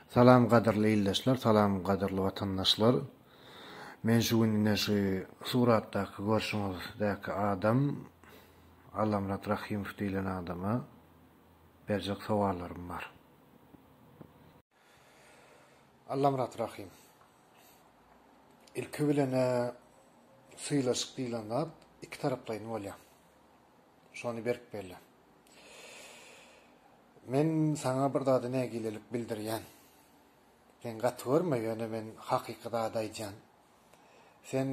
Salam gadyrly ildeşler salam gadyrly watandaşlar men şu gün ine şu suratdaky görşüňiz däki adam Allamyrat Rahymow diýilen adama berjek sowallarym bar. Allamyrat Rahym ilki bilene sylaşyk diýilen zat iki taraplaýyn bolýar şony berk belle. Men saňa bir zady nägilelik bildirýän. Sen gaty görme, ýöne men hakyky zady aýdýan. Sen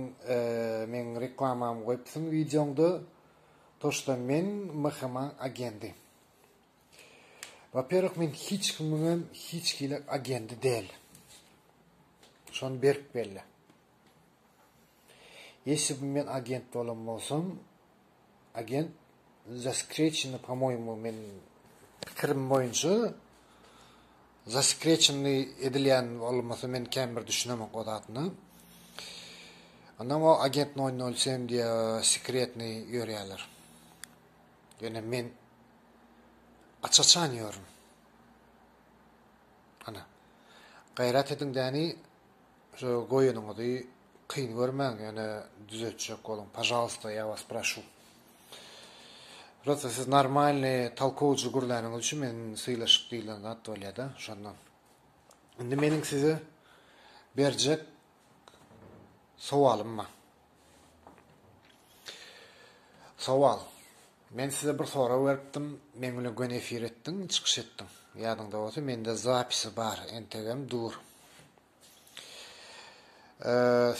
meň reklamamy goýupsyň wideoňda, toşda men MHM-a agendi. Waperwih men hiç kimiňem hiç hili agendi däl. Şony berk belle. Ýesibim men agent bolan bolsam agent zaskreçenny pomoýmu men pikirim boýunça zaskreçenny edilýän bolmasa men känbir düşünemok o zadyna onam o agent noý noý sem diýe sekretny ýörýäler ýöne men aç açan ýörün ana gaýrat ediň däni Şu goýanyňyzy kyn görmäň ýöne düzetjek boluň pažalsta ýa was proşu. Prosta siz normalny talkowjy gürläniňiz üçin men sylaşyk diýilen zat bolýada şondan. Indi meniň size berjek sowalym bar. Sowal. Men size bir sorag beripdim, men bilen göni efir etdiň, çykyş etdiň. Ýadyňda bolsa mende zapisi bar, entegem dur.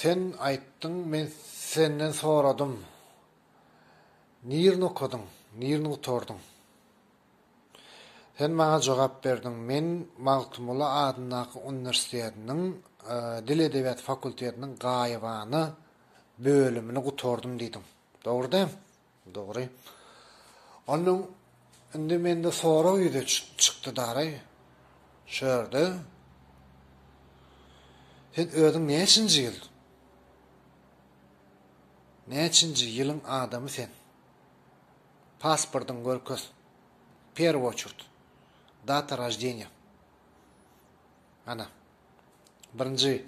Sen aýtdyň, men senden soradym, Nirini okadyň, nirini gutardyň? Sen maňa jogap berdiň, Men Magtymguly adyndaky uniwersitetiniň Dil edebiýat fakultetiniň gaýybana bölümini gutardym diýdiň. Dogry däm? Dogry. Onnoň indi mende sorag ýüze çykdy daraý. Şu ýerde Sen özüň näçinji ýyl? Näçinji ýylyň adamy sen? Pasportyňy görkez. Perw oçurt. Data roždeniýa. Ana. Birinji.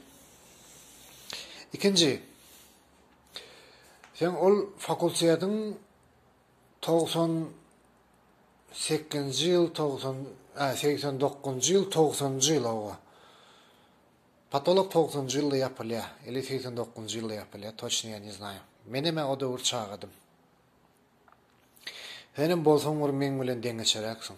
Ikinji. Sen ol fakultetiň togsan sekizinji ýyl, togsan, ä, segsen dokuzynjy ýyl, togsanynjy ýyl, hawa. Patolog togsanynjy ýylda ýapylýar, ili segsen dokuzynjy ýylda ýapylýar, toçny ýa ne znaýym. Menem-ä o döwür çagadym. Senem bolsaň bir meň bilen deňeçeräksiň.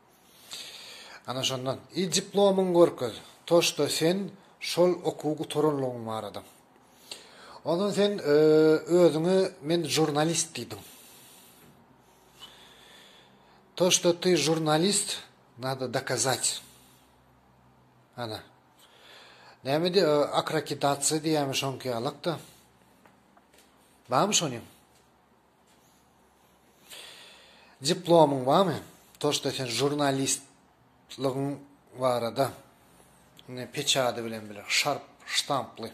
Ana şondan, il diplomyňy görkez, toşda sen şol okuwy gutaranlygyň barada. Ondan sen özüňe men žurnalist diýdiň. To, što ty žurnalist, nado dokazat. Ana. Näme diýe, akrakitatsiýa diýýämi şoňky ýalak-da. Barmy şonyň? Diplomyň barmy? Toşda sen žurnalistligiň barada ine peçady bilen bile şarp ştamply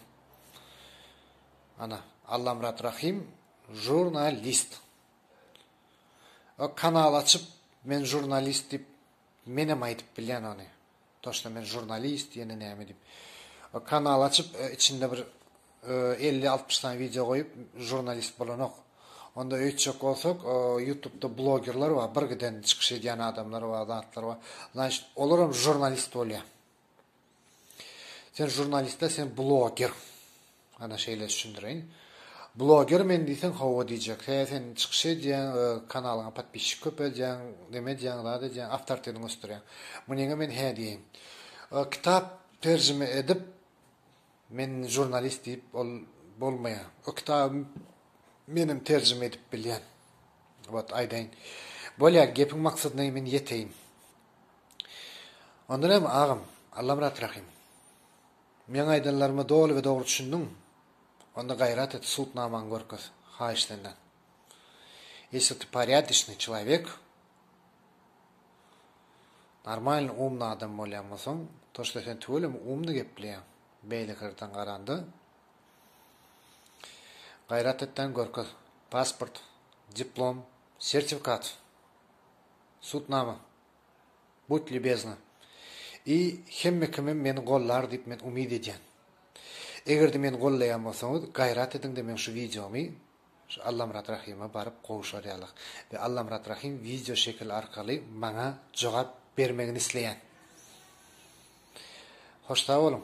ana Allamyrat Rahym žurnalist. Kanal açyp men žurnalist diýip Menem aýdyp bilýän ony. Toşda men žurnalist ýene näme diýip. Kanal açyp içinde bir elli altmyş sany wideo goýup žurnalist bolanok. Onda öýtjek bolsak ýutubda blogerler bar bir giden çykyş edýän adamlar bar zatlar bar. Znaçt olaram žurnalist bolýa. Sen žurnalist däl sen bloger. Ana şeýle düşündireýin. Bloger men diýseň hawa diýjek. Hä sen çykyş edýäň, kanalyňa podpisçik köpeldýäň, neme edýäň, zat edýäň, awtoritetiňi ösdürýäň. Munyňa men hä diýeýin. Kitap terjime edip men žurnalist diýip ol bolmaýar. O kitaby menem terjime edip bilýän. Wot aýdaýyn. Bolýar gepiň maksadyna men ýeteýin. Onda näme, agam, Allamyrat Rahym? Meň aýdanlaryma doly we dogry düşündiňmi? Onda gaýrat et, sudnamaňy görkez, haýyş senden. Ýesi ty porýadişnyý çelawek, normalny umny adam bolýan bolsaň, to što sen tüweleme umny gepleýäň, beýleki ýerden garanda, gaýrat et-dä görkez, pasport, diplom, sertifikat! Subutnama. Budy lýubezna i hemme kimem meni gollar diýip men umyt edýän. Egerde meni gollaýan bolsaňyz gaýrat ediňde meň şu wideomy şu Allamyrat Rahima baryp gowşarýalyk we Allamyrat Rahim wideo şekil arkaly maňa jogap bermegini isleýän. Hoş sag boluň.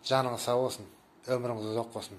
Janyňyz sag bolsun. Ömrüňiz uzak bolsun.